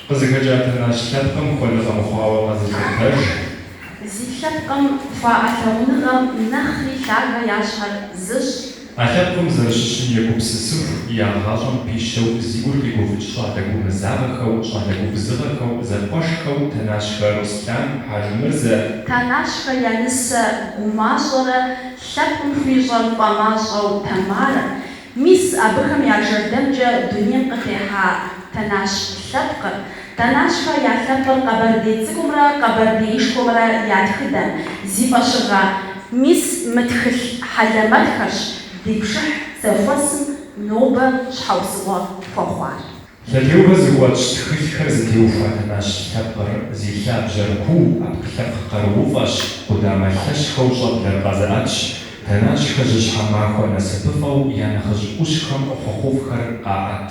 Къызыхэкӏа Тэнащ лъэпкъым хуэныгъэ мыхъуауэ къэзылъытэж. Зи лъэпкъым хуаӏэ лъагъуныгъэм нэхъри лъагэ я щхьэр зыщӏ. А лъэпкъым зэрыщыщым егупсысыху, я гъащӏэм пищэу зи гур къигуфӏыкӏ щӏалэ гумызагъэхэу, щӏалэ губзыгъэхэу, зэкъуэшхэу Тэнащхэ Руслъан, Хьэжымырзэ, Тэнащхэ я нысэ гумащӏэрэ лъэпкъым хуищӏэр фӏэмащӏэу Тэмарэ, мис абыхэм я жэрдэмкӏэ дунейм къытехьа Тэнащ лъэпкъыр, Тэнащхэ я лъэпкъыр къэбэрдей цӏыкӏумрэ къэбэрдеишхуэмрэ я тхыдэм, зи фӏэщыгъэ. Мис мы тхылъ хьэлэмэтхэрщ ди пшыхь зэхуэсым нобэ щхьэусыгъуэ хуэхъуар. Лъэтеувэ зыхуэтщӏ тхылъхэр зытеухуа Тэнащ лъэпкъыр зи лъабжьэр куу, ӏэпкълъэпкъ къарууфӏэщ, къудамэ лъэщхэу щӏэблэр къэзыӏэтщ, Тэнащхэ жьыщхьэ махуэ насыпыфӏэу я нэхъыжь ӏущхэм хъуэхъуфӏхэр къаӏэт.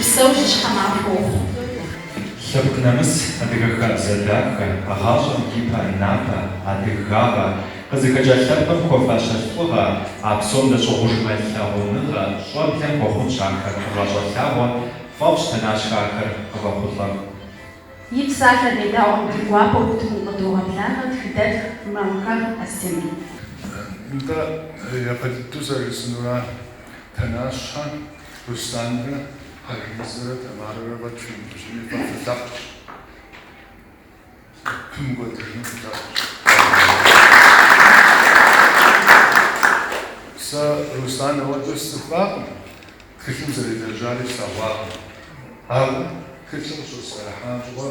Псэу жьыщхьэ махуэ ухъу. Лъэпкъ нэмыс, адыгэ хабзэ дахэ, гъащӏэм ипэ напэ, адыгагъэ, къызыхэкӏа лъэпкъым хуэфащэ лӏыгъэ, а псом дэщӏыгъужмэ лъагъуныгъэ, щӏэблэм хуэхъунщ ахэр гъащӏэ лъагъуэ, тфӏэфӏщ Тэнащхэ ахэр къывэхъулӏэм. И псалъэ дедаӏуэм ди гуапэу утыкум къыдогъэблагъэ тхыдэтх Мамхэгъ Астемыр. Нтӏэ, екъыл дыдэу зэрыжысӏэнура? Тэнащхэ Русланрэ Хьэжымырзэрэ Тамарэрэ уэ тхьэм ущыми фэ фылъэпкъщ, фымыкӏуэдыжыну фылъэпкъщ. Сэ Руслан ауэдэу сцӏыхуакъым, тхылъым зэрелэжьари слъэгъуакъым, ауэ тхылъыр къыщысӏэрыхьам щыгъуэ,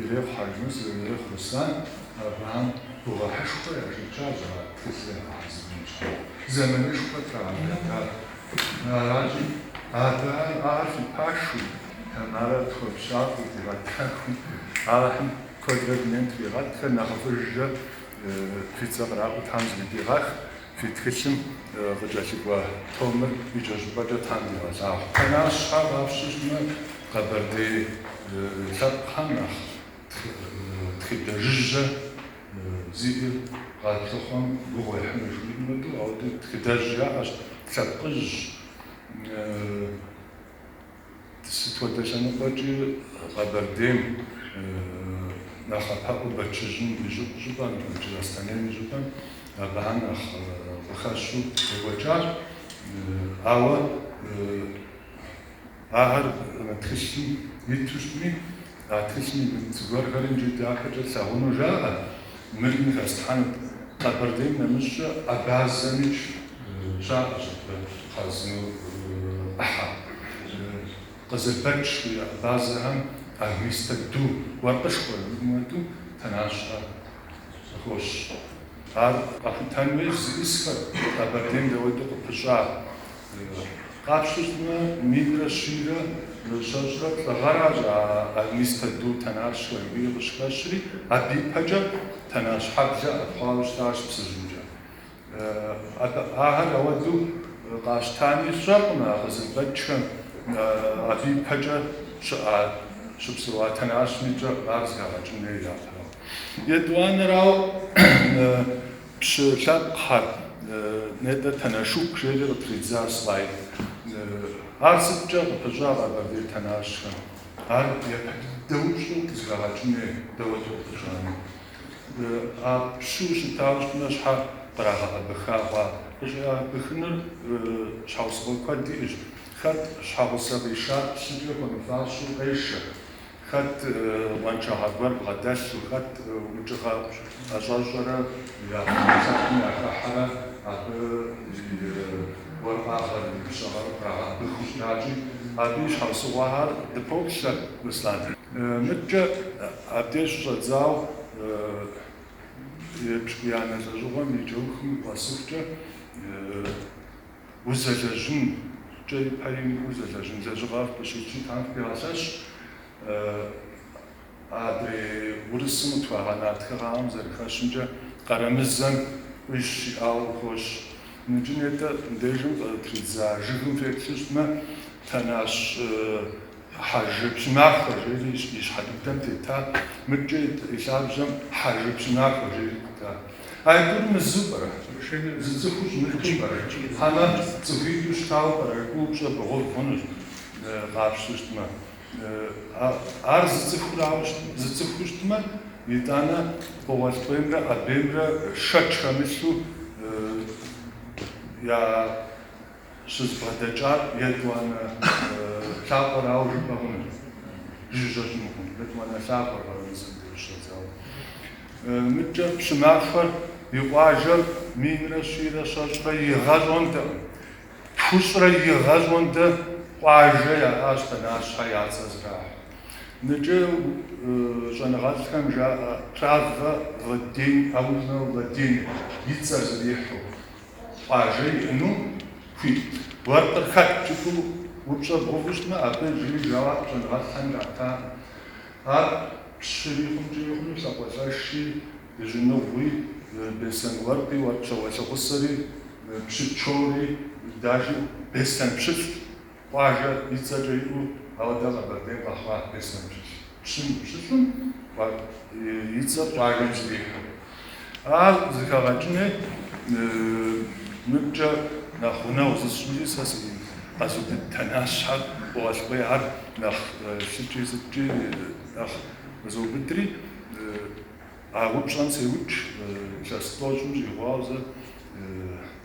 Ирехъу Хьэжымырзэ, ирехъу Руслан. Абыхэм гугъыхьышхуэ яшэчащ а тхылъыр ягъэхьэзырын щхьэкӏэ. Зэманышхуэ трагъэкӏуэдащ. Аращи, абыхэм ахэр фи пашэу, Тамарэ тхуэпщӏакъыу, дигъэтэхуи, Алыхьым куэдрэ дунейм тригъэтхэ, нэхъыфӏыжкӏэ фи цӏэ къраӏуэу тхьэм зэхыдигъэх. Фи тхылъым къыкӏэлъыкӏуэ томыр икӏэщӏыпӏэкӏэ тхьэм дигъэлъагъу. Тэнащхэ къапщтэмэ, къэбэрдей лъэпкъхэм нэхъ тхыдэ жыжьэ зиӏэ къалъыхъуэм гугъу ехьыну жыхуиӏэм хуэдэу, ауэдэ тхыдэжь яӏэщ, лъэпкъыжьщ. Сыт хуэдэ лъэныкъуэкӏи Къэбэрдейм нэхъапэӏуэу Бэчыжьым и щӏыпӏэм Джылахъстэнейм и щӏыпӏэм абыхэм нэхъ къыхэщу екӏуэкӏащ. Ауэ ахэр тхылъым иту щытми, А тхылъми зыгуэрхэр иджы дахэкӏэ тлъагъуну жаӏэ, мыр ин хэслъхьэну. Къэбэрдейм нэмыщӏкӏэ абазэми щаӏэщ абы хъарзынэу ӏыхьэ. Къызылбэч абазэхэм армистэ ду, уэркъышхуэ зиӏэм хуэдэу, Тэнащхэ къыхощ. Ар къэхутэн хуейщ зищӏысхэр Къэбэрдейм дауэду къыпыщӏар. Къапщтэмэ, минрэ щийрэ щэщӏрэ плӏы гъэращ а армистэ ду Тэнащхэри къыщыхэщри, абы ипэкӏэ Тэнащхьэблэ ӏэпхъуауэ щытащ Псыжьымкӏэ. Ахэр ауэдэу къащтами, сщӏэркъым а Къызылбэчхэм абы ипэкӏэ щыӏа, щыпсэуа Тэнащми кӏэ ар зэхэгъэкӏын хуей япэрауэ. Етӏуанэрауэ, Пщы лъэпкъхэр, Нетӏэ Тэнэшук жери къытридза слайд. Ар сыткӏэ къыпыщӏа къэбэрдей Тэнащхэм? Ар япэ дыдэу къызэхэгъэкӏын хуей, дауэ зэпыщӏами. А пщу щытауэ щытмэ, щхьэ кърагъэкъэбыха хъуа? Къыщӏигъэкъэбыхыныр щхьэусыгъуэ куэд иӏэщ. Хэт щхьэгъусэ къишар пщыкӏэ хуэмыфащэу къешэ. Хэт къуаншагъэ гуэр бгъэдэлъу, хэт укӏыгъэ ӏэщӏэщӏэрэ ясакым яхыхьэрэ абы и уэркъыгъэр, и пщыгъэр кърагъэбыху щытати, абы и щхьэусыгъуэхэр дыпоплъэ Руслан. Мыткӏэ абдеж щыщӏэдзауэ епщыкӏуиянэ лӏэщӏыгъуэм и кӏэухым къэсыхукӏэ, узэлэжьын, кӏэри пэри мыхъуу узэлэжьын лэжьыгъэр къыщиплъын Тхьэм фхуигъэлъэщ, адрей урысым къытхуагъэна тхыгъэхэм зэрыхэщымкӏэ Къарэмырзэм къуищ щиӏауэ къыхощ. Иджы нетӏэ, дежым къытридза жыгым теплъу щытмэ, Тэнащ. Хьэжы Пщымахуэ жери и щхьэ дыдэм тетат, мыткӏэ ит и лъабжьэм Хьэжы Пщымахуэ жери итат. А тӏур мызу пӏэрэ? Зы цӏыхуу щымыту пӏэрэ? Хьэмэ, цӏыхуитӏу щытауэ пӏэрэ? Упщӏэ бгъэув хъунущ, къапщту щытмэ. Ар зы цӏыхурауэ щытмэ, зы цӏыхуу щытмэ, итӏанэ Къугъуэлтӏуеймрэ Къэбеймрэ шэч хэмылъу я. щызбгъэдэкӏар етӏуанэ лъапӏэрауэ жыпӏэ хъунут, жыжьэ хъунукъым, етӏуанэ лъапӏэр къэралыдзэм деж щӏэдзауэ. Мыдкӏэ Пщымахуэр и къуажэр минрэ щийрэ щэщӏрэ гъэ пщӏондэкъым. Тхущӏрэ гъэ пщӏондэ къуажэ яӏащ Тэнащхэ я цӏэ зрахь. Ныкӏэ щӏэныгъэлӏхэм жаӏэ Правва Владимир, Аульнэ Владимир, и цӏэ зрихьу, къуажэ иӏэну хуитт. Уэркъыр хэт жыпӏэу упщӏэ бгъэуву щытмэ, абы иджыри жэуап щӏэныгъэлӏхэм ратакъым. Ар пщыри хъункӏи хъуну лӏакъуэлӏэши, дыжьыныгъуи, беслъэн уэркъи, уэркъ щауэлӏыгъусэри, пщыкӏэури, даже беслъэн пщылӏт. Къуажэ и цӏэкӏэ иӏэу ауэ дэ Къэбэрдейм къэхъуа беслъэн пщылӏ, пщылӏым и цӏэр къуажэм зэрихьэу. Ар зыхэгъэкӏыни мыбкӏэ нэхъ гъунэгъу зысщӏынкӏи сэ си къэзу дыдэ Тэнащхэр къыгъуэлъкъуи, ар нэхъ лъыкӏи сыткӏи нэхъ къызоубыдри, а упщӏэм сеукӏ, илъэс тӏощӏым щӏигъуауэ зэ.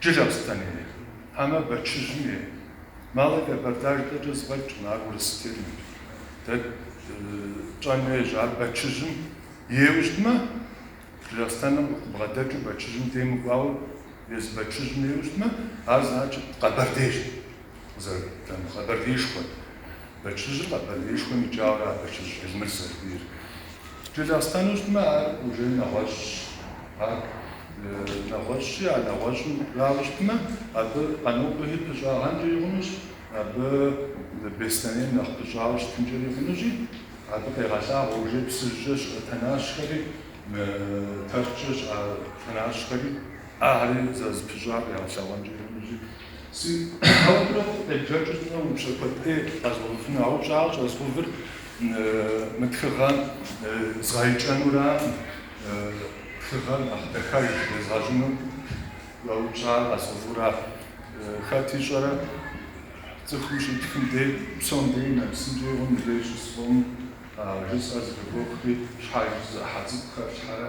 Джылахъстэн ей хьэмэ Бэчыжьым ей? Малэ Кабарда жытӏэкӏэ зэфӏэкӏкъым, ар урыс терминщ. Дэ тщӏэн хуейщ, ар Бэчыжьым ейуэ щытмэ, Джылахъстэным къыбгъэдэкӏыу Бэчыжьым дей мыкӏуауэ, езы Бэчыжьым ейуэ щытмэ, ар значит Къэбэрдейщ. зэрыддэнур Къэбэрдеишхуэт. Бэчыжьыр Къэбэрдеишхуэм икӏауэ а Бэчыжь Элмыр зэрыхуейр. Джылахъстэну щытмэ, ар уже нэгъуэщӏщ. Ар нэгъуэщӏщи, а нэгъуэщӏырауэ щытмэ, абы Къанокъуэхи пыщӏагъэнкӏи хъунущ, абы Беслъэнейм нэхъ пыщӏауэ щытынкӏэри хъунущи, абы къегъэлъагъуэ уже Псыжькӏэ щыӏэ Тэнащхэри, Тэрчкӏэ щыӏэ Тэнащхэри, ахэри зэрызэпыщӏар къигъэлъэгъуэнкӏи хъунущи. Си ӏэупрэ фӏы къебжэкӏыу сӏэ упщӏэ куэдыӏей къэзгъэувыну, а упщӏэр щӏэзгъэувыр мы тхыгъэм згъэикӏэнураӏым, тхыгъэр нэхъ дахэж езгъэщӏыну сӏэ упщӏауэ къэзгъэувра. Хэт ищӏэрэ, цӏыхум щитхым дей псом дей нэмысынкӏи хъуну лей щысфӏэну жысӏэр зэхыуохри, щхьэж зы ӏыхьэ цӏыкӏу хэфлъхьэрэ,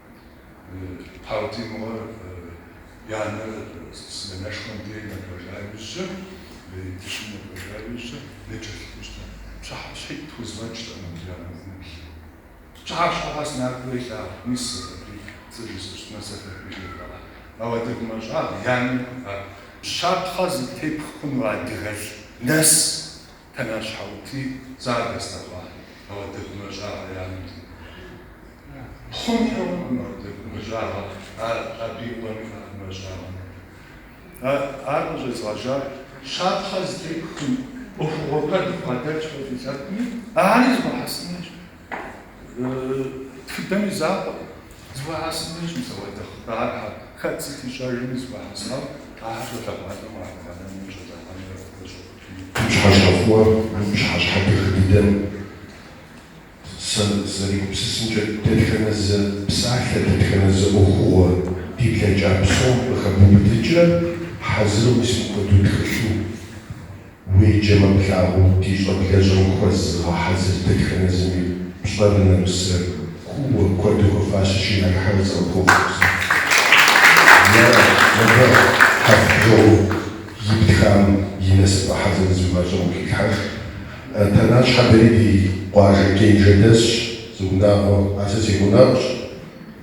Партий мыгъуэр и анэр сменэшхуэм дей нэбэжа иужькӏэ, дыщым нэбэжа иужькӏэ нэкӏэ лъыхъущтэ. Пщыхьэщхьитӏ тхузгъэнщтэ мобиланэбгъубл. Пщыхьэщхьэ къэс Нарбэ и лъагъу мис зэфэбий дзэ жысӏэщтмэ, зэфэбий жевгъэӏэ. Ауэ адыгэ гумащӏагъ и анэм иӏэ щапхъэ зытепх хъуну адыгэлӏ нэс Тэнар щхьэӏути, цар дэслъэгъуа? Мэрдэкумэ жьагъэ и анэм текӏуэда? Пхъум хьэуакъым мэрдэкумэ жьагъэ, ар абы и къуэм иӏакъымэ жьагъэ мыхъу. Ар къыщӏезгъэжьар щапхъэ зытепхым, ӏуэхугъуэ куэд бгъэдэлъ хуэдэ лъэпкъми, ари зэхуэхьэсын дежи, тхыдэм и закъуэкъым, зэхуэхьэсын дежи мис апхуэдэ хъыбархэр хэт сыт ищӏэжми зэхуэхьэсауэ ахэр щолъэгъуалӏэу къагъэлъагъуэным, щӏэдзэхъуэным яхуэпэщӏу. Мы пщыхьэщхьэ фӏыгъуэ, мы пщыхьэщхьэ дахэ дыдэм сэ сызэригупсысымкӏэ, дэтхэнэ зы псалъэ, дэтхэнэ зы ӏуэхугъуэ ди блэкӏа псом къыхэбубыдыкӏрэ хьэзыру мис мыпхуэдэу тхылъу уеджэмэ плъагъуу ди щӏэблэщӏэм хуэзыгъэхьэзыр дэтхэнэ зыми пщӏэрэ нэмысрэ кууэ куэду хуэфащэщи нарыхьэу зыкъыпхуэфщӏэу сэ. Е, мыбы хьэрф бжыгъум. Итхам и насыпӏэ хьэзыр зы мащӏэм къыхилъхьэж. Тэнащхэ дэри ди къуажэ Кэнжэ дэсщ, зы унагъуэ. Ар сэ си гъунэгъущ.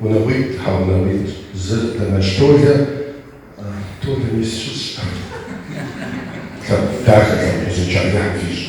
Унагъуитӏ, тхьэ, унагъуитӏ. Зыр Тэнащ Толэ. Толэ мис щысщ. Лъэпкъ дахэ, лъэпкъ узыншэ Алыхьым фищӏ.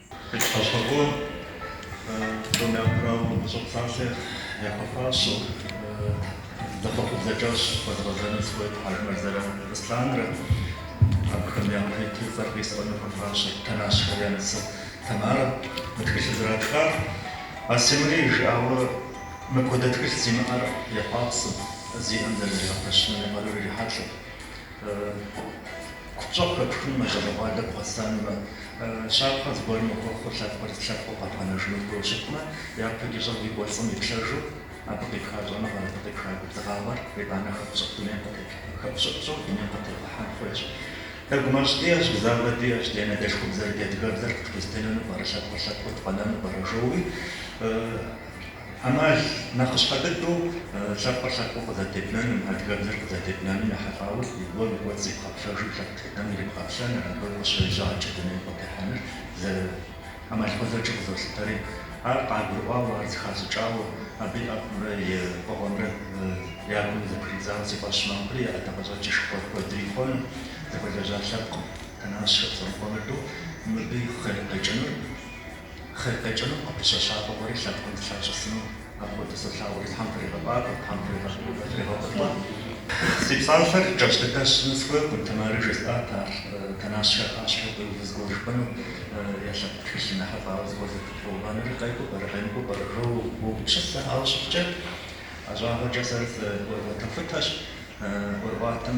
Къыщыпэщӏэкъуэ псом япэрауэ мы гущӏэ псалъэр яхуэфащэу сэ гу къабзэкӏэ зыхуэзгъэзэну сыхуейт Хьэжмэрзэрэ Русланрэ. Абыхэм япэ иту цӏэр къисӏуэну хуэфащэт Тэнащхэр я нысэ Тамарэ. Мы тхылъыр зэратхар Асимрэ ирижыӏауэ мыпхуэдэ тхылъ зимыӏэр ехьуапсэт, зиӏэм зэрызригъэпэщынуми къару ирихьэлӏэт. Купщӏэу хэпхыным мэлыхъуэгъуалэ бгъэсэнумэ, щапхъэ зыгуэрым мыхуэхъуу лъэпкъыр зы лъэпкъыу къэбгъэнэжыну хуейуэ щытмэ, япэ кӏыщӏэм ди кӏуэцӏым иплъэжу, абы къипха щӏэныгъэр, абы къипха губзыгъагъэр итӏанэ хэпщӏыкӏыу дунейм къытеплъэ, хэпщӏыӏущӏэу дунейм къытегъэхьэн хуейщ. Дэ гумэщӏ диӏэщ, гузавэ диӏэщ, ди анэдэлъхубзэр, ди адыгэбзэр къытхузэтенэну пӏэрэ, лъэпкъыр лъэпкъыу дыкъэнэну пӏэрэ, жоуи. ӏэмал нэхъыщхьэ дыдэу лъэпкъыр лъэпкъыу къызэтебнэным, адыгэбзэр къызэтебнэным ехьэлӏауэ зыгуэр и кӏуэцӏ зибгъэплъэжу лъэпкъ тхыдэм ирибгъэплъэн, абы къыщежьа лъагъуэкӏэ дунейм къытехьэныр ӏэмал гъуэзэджэу къызолъытэри, ар къагурыӏуауэ, ар зыхащӏыкӏауэ, абы и ӏэфӏымрэ и фӏыгъуэмрэ я гум зэпридзауэ си фӏэщ мэхъури, а ӏэдакъэщӏэкӏыр шхуэдрихъуэну зэхуэлэжьа лъэпкъым, тэнащхэр зэрыхуэмыдэу мыбы къикӏынур. Хъер къикӏыну, абы щэщакӏуэ гуэри лъэпкъым дылъащӏысыну. Апхуэдэу солъагъури, Тхьэм фригъэфӏакӏуэ, Тхьэм фригъэфӏылӏэ. Си псалъэр кӏэщӏ дыдэ сщӏыну схуейкъым, Тэмарыр жесӏат, ар Тэнащхэ я пащхьэ уиуву зыгуэ жыпӏэну е лъэпкъ тхылъым ехьэлӏауэ зыгуэр зэпыбгъэувэнури къекӏуу пӏэрэ, къемыкӏуу пӏэрэ? Жоуэ уопщысэ, ауэ щыхъукӏэ, ӏэщӏагъэкӏэ сэ сыӏуэрыӏуэтэхутэщ, ӏуэрыӏуатэм.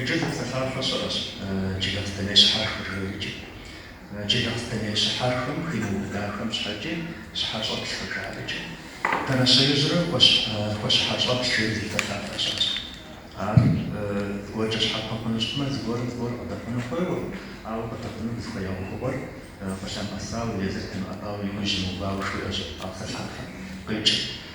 Иджы зы псалъафэ щыӏэщ, Джылахъстэней щыхьэрхэ жыхуеӏыкӏи. Джылахъстэней щыхьэрхэм химыубыдахэм щхьэкӏи щхьэщӏэплъ къыжаӏэкӏэ, Тэнащеижьрэ хуэщхьэщӏэплъ жери зы псалъафэ щыӏэщ. Ар зыгуэркӏэ щхьэпэ хъуну щытмэ, зыгуэрым зыгуэр къыдэхъуну хуейуэ, ауэ къыдэхъуну зыхуея ӏуэхугъуэр къылъэмыӏэсауэ, езыр темыӏэбауэ и ужь имыувауэ жыхуиӏэщ а псалъафэм къикӏыр.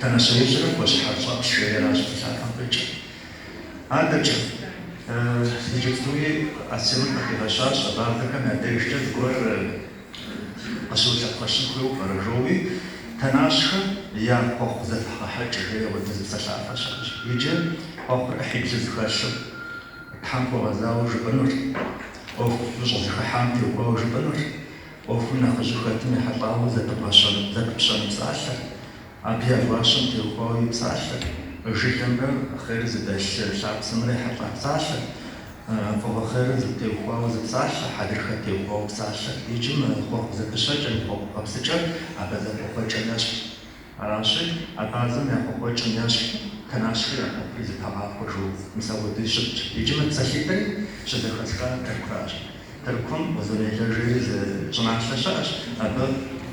Тэнащеижьрэ хуэщхьэщӏэплъ жееращ псалъафэм къикӏыр. Адэкӏэ, иджыпстуи Асемыр къыхигъэщащ абазэхэм я дежкӏэ зыгуэр къыщыулъэпхъэщын хуейуэ пӏэрэ жоуи, Тэнащхэ я Хъуэхъу зэфыхьгъэхьэкӏ жей апхуэдэ зы псалъафэ щыӏэщ. Иджы хъуэхъур ӏыхьиблу зэхэлъщ, Тхьэм хуэгъэзауэ жыпӏэнур, ӏуэхуу щӏызэхыхьам теухуауэ жыпӏэнур, ӏуэхум нэхъыжьу хэтым ехьэлӏауэ зэпыбгъэщэн, зэпыпщэн псалъэр, абы я гуащэм теухуауэ и псалъэр, жылэмрэ хъер зыдэлъ лъапсэмрэ ехьэлӏа псалъэр, фӏыгъуэ хъерыр зытеухуауэ зы псалъэ, хьэдрыхэ теухуауэ псалъэр, иджы мы хъуэхъу зэпыщэкӏэ, мы хъуэхъу къэпсыкӏэр абазэ хъуэхъукӏэ нэсщ. Аращи, абазэм я хъуэхъукӏэм ещхьу Тэнащхэ я хъуэхъури зэтагъахуэ жоуэ мис апхуэдэу щытщ. Иджы мы псалъитӏри щызэхэсхар Тыркуращ. Тыркум Узун-Яйлэ жери зы щӏыналъэ щыӏэщ, абы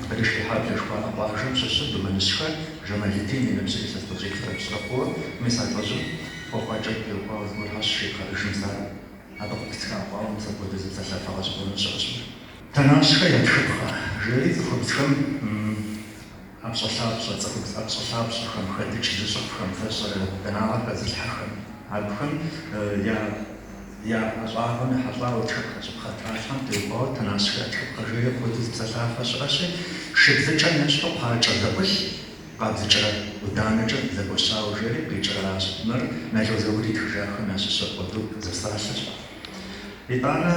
Къырышхыхьаблэ жыхуаӏэ къуажэм щыщу Думэныщхэ Жамалидин и ныбжьыр илъэс тӏощӏиплӏрэ пщӏырэ хъууэ, мис а лӏыжьым хъуэхъукӏэ къиукъуауэ зыгуэр гъэщ щепхъэӏыжым сэ ар абы къыпыстхыкӏауэ, мис апхуэдэ зы псалъафэ гъэщӏэгъуэну щыӏэщ мыр. Тэнащхэ я тхыпхъэ, жери цӏыхубзхэм. ӏэпщӏэлъапщӏэ, цӏыхубз ӏэпщӏэлъапщӏэхэм, хэдыкӏ зыщӏыфхэм, фэщӏырэ данагъэ хэзылъхьэхэм, абыхэм я я ӏэщӏагъэм ехьэлӏауэ тхыпхъэщӏыпхъэ тралъхьэм теухуауэ Тэнащхэ тхыпхъэ жей апхуэдэу зы псалъафэ щыӏэщи, шыбзыкӏэм ещхьу къуакӏэ зэӏулъ къабзыкӏрэ ӏуданэкӏэ зэгуэщауэ жери къикӏыращ. Мыр Нало Заур итхыжахэм ящыщ апхуэдэу зы псалъэщ. Итӏанэ,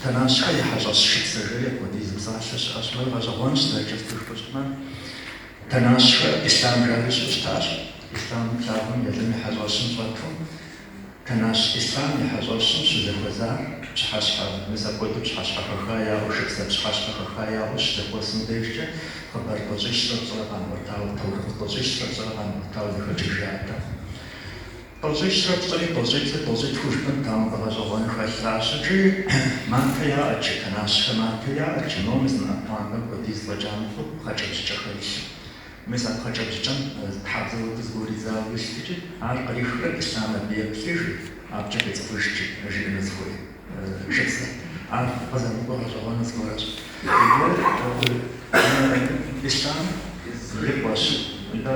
Тэнащхэ я хьэщӏэщ шыпсэ жери апхуэдэ зы псалъэ щыӏэщ. Мыр гъэщӏэгъуэнщ, зэрыкӏыр цӏыхур щӏымэ. Тэнащхэ Ислъам жари щыӏэу щытащ. Ислъам лъагъуэм Елым и хьэщӏэщым щӏэту, Тэнащ Ислъам и хьэщӏэщым щызэхуэсар пщыхьэщхьэ, мис апхуэдэу пщыхьэщхьэ хэха яӏэу, шыпсэ пщыхьэщхьэ хэха яӏэу щызэхуэсым дежкӏэ, хъыбар тӏощӏищрэ пщӏырэ къамыӏуэтауэ, таурыхъ тӏощӏищрэ пщӏырэ къамыӏуэтауэ зэхэкӏыж яӏэтэкъым. Тӏощӏищрэ пщӏыри тӏощӏитӏыр тӏощӏитху жыпӏэн памыдэ гъэщӏэгъуэн хэлъащ икӏи матэ яӏэт жи тэнащхэ матэ яӏэт жи но мы зы мы ӏэпэхэм хуэдиз фӏэкӏа мыхъуу пхъэкӏэбжьыкӏэхэр илъу мис а пхъэкӏэбжьыкӏэм тхьэбзэу зыгуэр идзауэ илът икӏи ар кърихурэ ислъам абы еплъыж абыкӏэ къицӏыхужт жиӏэну зыхуей шыпсэр ар къызэмыкӏуэ гъэщӏэгъуэну зыгуэращ икӏи ислъам и къуэш итӏэ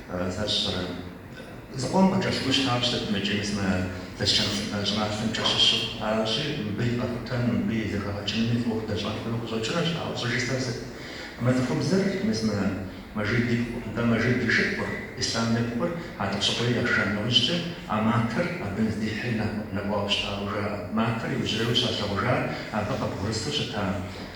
Зыр щӏырэ? Зыкъом къыкӏэщӏыну щытауэ щытмикӏи мис мы Шэшэн щӏыналъэмкӏэ щыщу? Аращи, мыбы и къэхутэным, мыбы и зэхэгъэкӏынми фӏыуэ куэд щӏэн хуейуэ къыщӏэкӏынущ, ауэ щӏыжысӏэр сыт? Мы цӏыхубзыр, мис мы Мэжид ипхъу, нтӏэ Мэжид и шыпхъур, Ислъам ипхъур Хьэтӏохъущыкъуей яша нэужькӏэ, а матэр абы здихьри нэкӏуауэ щытауэ жаӏэ. Матэр иужьрейуэ щалъэгъужар абы къыбгъурысу щыта.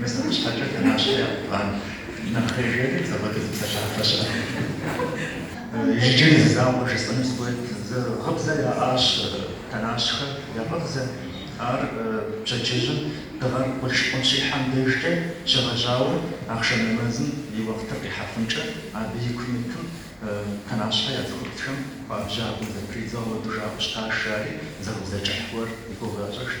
Мис мыбы щхьэкӏэ Тэнащхэ я губгъэн нэхъей жари апхуэдэ зы псалъафэ щыӏэт. Иджыри зы закъуэ жысӏэну сыхуейт, зы гъыбзэ яӏащ Тэнащхэ я гъыбзэ, ар пщэдджыжьым дыгъэр къурш-къунщихьэм дежкӏэ щегъэжьауэ ахъшэм нэмэзым и уэхътыр къихьэхункӏэ абы икум итым Тэнащхэ я цӏыхубзхэм хуабжьагъэу зэпридзыурэ жаӏэу щытащ, жари зы гъыбзэ кӏыхь гуэр и гугъу ящӏыжт.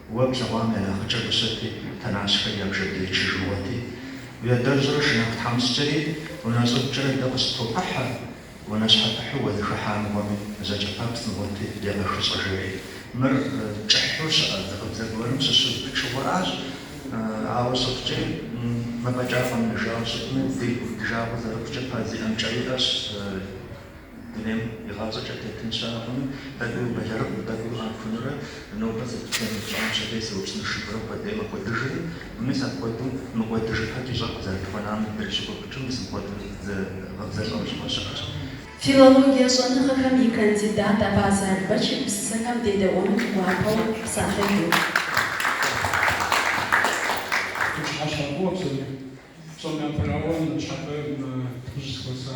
Уэ плъэгъуам я нэхъыкӏэр къыщыти, Тэнащхэр я бжэ дыдчыр мыгъуэти, уи адэрщӏрэ шынагъу тхьэмыщкӏэри унэ щӏыбкӏэрэ дэ къыщыттопыхьэ, унащхьэпыхьу уэзыхыхьа мыгъуэми зэкӏэпэпцӏ мыгъуэти, егъэхыщӏэ жери. Мыр кӏыхьу щыӏэ зы гъыбзэ гуэрым щыщу пычыгъуэращ, ауэ щыхъукӏи, мыфӏэкӏа фӏэмыдэжауэ щытми, зи гуп ди жагъуэ зэрыхъукӏэ пэ зиӏэм кӏэ иӏэщ. Дунейм игъащӏэкӏэ тетын щыӏэкъым. Тӏэкӏуи убэлэрыгъым, тӏэкӏуи къамыхунурэ. Нобэ сыт пщӏэн ищӏам пщэдей сыупщӏэнщ жыпӏэурэ кӏуэдӏей мыкӏуэдыжри, мис апхуэдэу мыкӏуэдыжыпэ ди щӏэр къызэрытхуэнам дрыщыгуфӏыкӏыу мис апхуэдэу зэзыгъэбзэлӏэм щыгъуэ щыӏэщ. Филологие щӏэныгъэхэм и кандидат Абазэ Албэч и псалъэхэм дедэӏуэну гуапэу псалъэжу. Фи пщыхьэщхьэ фӏыуэ псори псом япэрауэ, ныщхьэбэ дыщӏызэхуэса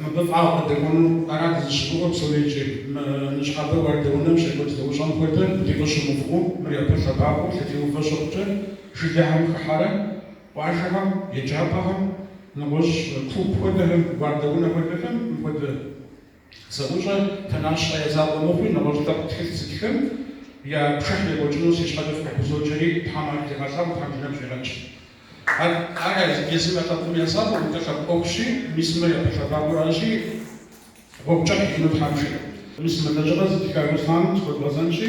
Мыбы фӏагъ къыдэкӏуэну ара дызыщыгугъыр псори икӏи. Мы ныщхьэбэ уардэунэм щекӏуэкӏ зэӏущӏэм хуэдэ деж къыщымыувыӏэу, мыр япэ лъэбакъуэу лъэтеувэ щыхъукӏэ, жылэхэм хыхьэрэ къуажэхэм, еджапӏэхэм, нэгъуэщӏ клуб хуэдэхэм, уардэунэ хуэдэхэм мыпхуэдэ Зэӏущӏэ Тэнащхэ я закъуэ мыхъуу, нэгъуэщӏ лъэпкъ тхылъ зытхым я пшыхь екӏуэкӏыну си щхьэкӏэ фыкъыхузоджэри, Тхьэм ар дигъэлъагъу, Тхьэм жиӏэм щегъэкӏ. Ар езым я лъэпкъым я закъуэ, нтӏэ лъэпкъ ӏуэхущи, мис мыр япэ лъэбакъуэ аращи, гъуэгу кӏыхь иӏэну Тхьэм жиӏэ. Мис мы лэжьыгъэр зытха Руслъан зыхуэдгъэзэнщи.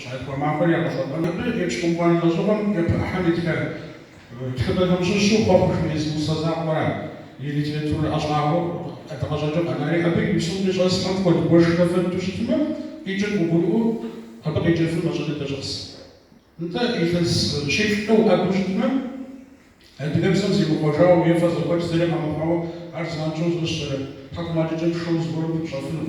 Щакӏуэ махуэр ягъэщӏэпӏэн абы епщыкӏубгъуанэ лӏэщӏыгъуэм япэ ӏыхьэм итха тхыгъэхэм щыщу Хъуэхъу жиӏэу зы усэ закъуэра и литературэ ӏэщӏагъэу къыдгъэщӏэкӏыу къэнари, абы и псом къыщӏэсхэм хуэд гуэш хэфэнту щытмэ, къикӏыр къыгурыӏуэу абы къеджэфыр мащӏэ дыдэ щӏэс. Нтӏэ, илъэс щиплӏкӏэ уӏэбэу щытмэ, адыгэбзэм зимыхъуэжауэ е фэ зэхъуэкӏ зыри къэмыхъуауэ ар занщӏэу зыщӏэрэ тхьэкӏумэкӏыкӏэм шэу зыгуэрым пыпщӏэфыну.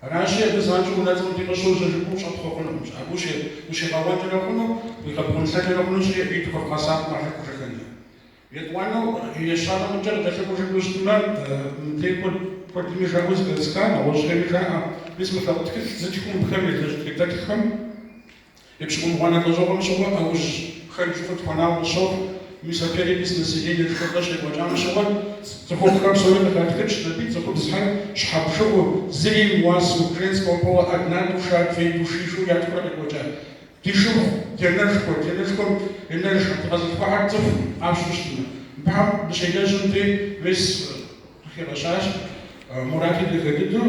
Аращи, абы занщӏэу унэ мыдей къыщожьэ жыпӏэу щӏэпхъуэфынукъымщ. Абы ущигъэуэкӏэрэ хъуну, уигъэбгъунлъэкӏэрэ хъунущ иджы и тхуэфӏ гъэсакъым къахьэкӏужыххэмкӏэ. Етӏуанэу, ещанэ мыдэ къыдэлъэӏужыну щытмэ, мыбдеж куэдми жаӏэу зэхэсха, нэгъуэщӏхэми жаӏэ, мис мы лъэпкъ тхылъ зытхыу мыбхэм елэжь тхыдэтххэм, Епщыкӏубгъуанэ лӏэщӏыгъуэм щыгъуэ ӏэужь хэр жыфӏыр тхуэнауэ къысщохъу, мис а перепись населениехэр щекӏуэкӏам щыгъуэ цӏыхухъухэр псори къыхатхыкӏщ, абы и цӏыхубзхэр щхьэ бжыгъэу, зыри имыуасэу, женского пола одна душа, две души жиӏэу ятхурэ къекӏуэкӏа. Ди шыпхъу, дянэшхуэ, дянэшхуэм янэжхэр, дыкъэзылъхуахэр цӏыху къащу щытмэ, мыбхэм дыщелэжьым дей, мис къыхигъэщащ Мурати дахэ дыдэу.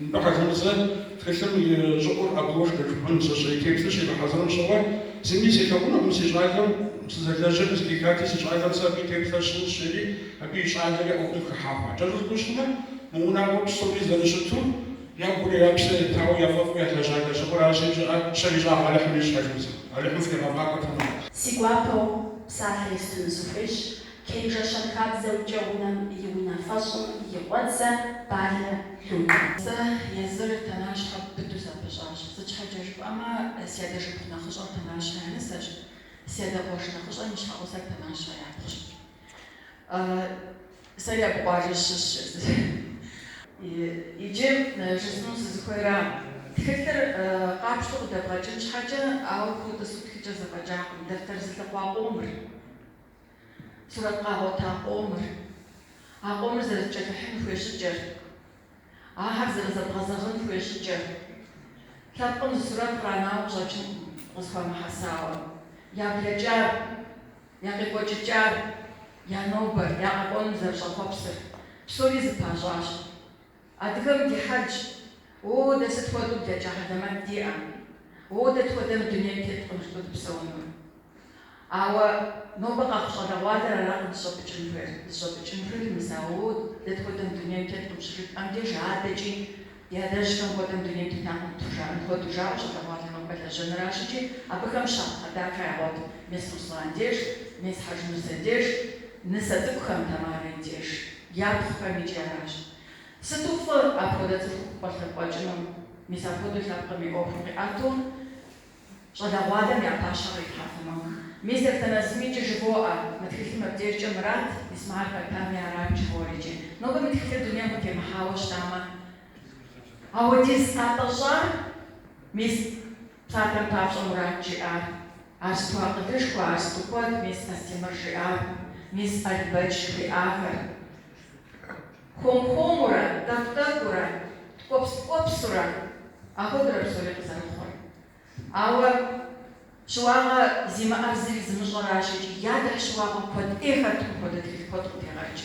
Нтӏэ, Хьэжмусэ, тхылъым и щӏыӏур обложкэ жыпӏэнщи, и теплъэр щигъэхьэзырым щыгъуэ, зыми селъэӏунукъым си щӏалэм сызэлэжьыр къызэхихати, си щӏалэм сэ абы и теплъэр сщӏынщ, жери абы и щӏалэри ӏуэхум хыхьа хъуат. Кӏэщӏу жыпӏэу щытмэ, мы унагъуэр псори зэрыщыту, я гури я псэ етауэ, я фӏэфӏу ялэжьа лэжьыгъэр аращи, жыӏэ пщэр ищӏагъ Алыхьым ищӏ, Хьэжмусэ. Алыхьым фхуигъэфӏакӏуэ тэмэму. Си гуапэу псалъэ естыну сыхуейщ, Кенжэ щэнхабзэмкӏэ унэм и унафэщӏым и къуэдзэ Балэ Людэ. Сэ езыр Тэнащхэ быдэу сапыщӏащ. Сыт щхьэкӏэ жыпӏэмэ, си адэ шыпхъу нэхъыщӏэр Тэнащхэ я нысэщ, си адэ къуэш нэхъыщӏэм и щхьэгъусэр Тэнащхэ япхъущ. Сэри абы къуажэ сыщыщщ. Иджы жысӏэну сызыхуейра, тхылъыр къапщтэу къыдэбгъэкӏын щхьэкӏэ, ауэ утӏысу птхыкӏэ зэфӏэкӏакъым, дэфтэр зылъыхъуа къомыр. Сурэт къагъуэта къомыр, а къомыр зэрызэкӏэлъыхьын хуей щӏыкӏэр, ахэр зэрызэбгъэзэгъын хуей щӏыкӏэр. Лъэпкъым зы сурэт къранауэ къыщӏэкӏынкъым къызэхуамыхьэсауэ. Я блэкӏар, я къекӏуэкӏыкӏар, я нобэр, я къэкӏуэнум зэрыщӏэхъуэпсыр, псори зэпащӏащ. Адыгэм ди хьэлщ, О, дэ сыт хуэдэу блэкӏа хьэлэмэт диӏэ! О, дэ тхуэдэ мы дунейм теткъым жытӏэу дыпсэуну! Ауэ нобэ къэхъу щӏалэгъуалэр аракъым дыщӏэпӏыкӏын хуейр. Дыщӏэпӏыкӏын хуейр мис а О, дэ тхуэдэ мы дунейм теткъым щыжытӏэм деж адэкӏи ди адэжьхэм хуэдэ мы дунейм тетакъым тхужаӏэн хуэдэу жаӏэу щӏалэгъуалэр нобэ лэжьэныращ икӏи абыхэм щапхъэ дахэ ягъуэт мис Руслан деж, мис Хьэжмусэ деж, нысэ цӏыкӏухэм, Тамарэ и деж. Япхъухэм икӏи аращ. Сыту фӏы апхуэдэ цӏыху къалъыкъуэкӏыну, мис апхуэдэу лъэпкъым и ӏуэхур къиӏэту щӏалэгъуалэм я пащхьэ кърилъхьэфыну. Мистер Танэзым икӏи жывоӏэ, мы тхылъым абдежкӏэ Мурат Исмэхьэл Пэтами аращ жыхуиӏэр икӏи. Нобэ мы тхылъыр дунейм къытемыхьауэ щытамэ, ауэдиз къэтщӏар мис Псалъэм папщӏэ Мурат жиӏар, ар сыту акъылышхуэ, ар сыту куэд, мис Астемыр жиӏар, мис Албэч жыхуиӏахэр. Хуэм-хуэмурэ, тӏэкӏу-тӏэкӏуурэ, ткӏуэпс-ткӏуэпсурэ ахуэдэуращ псори къызэрыхъур. Ауэ щыуагъэ зимыӏэр зыри зымыщӏэращ икӏи ятӏыхь щыуагъэ куэд ӏей хэт мыпхуэдэ тхылъ куэд къыдегъэкӏ.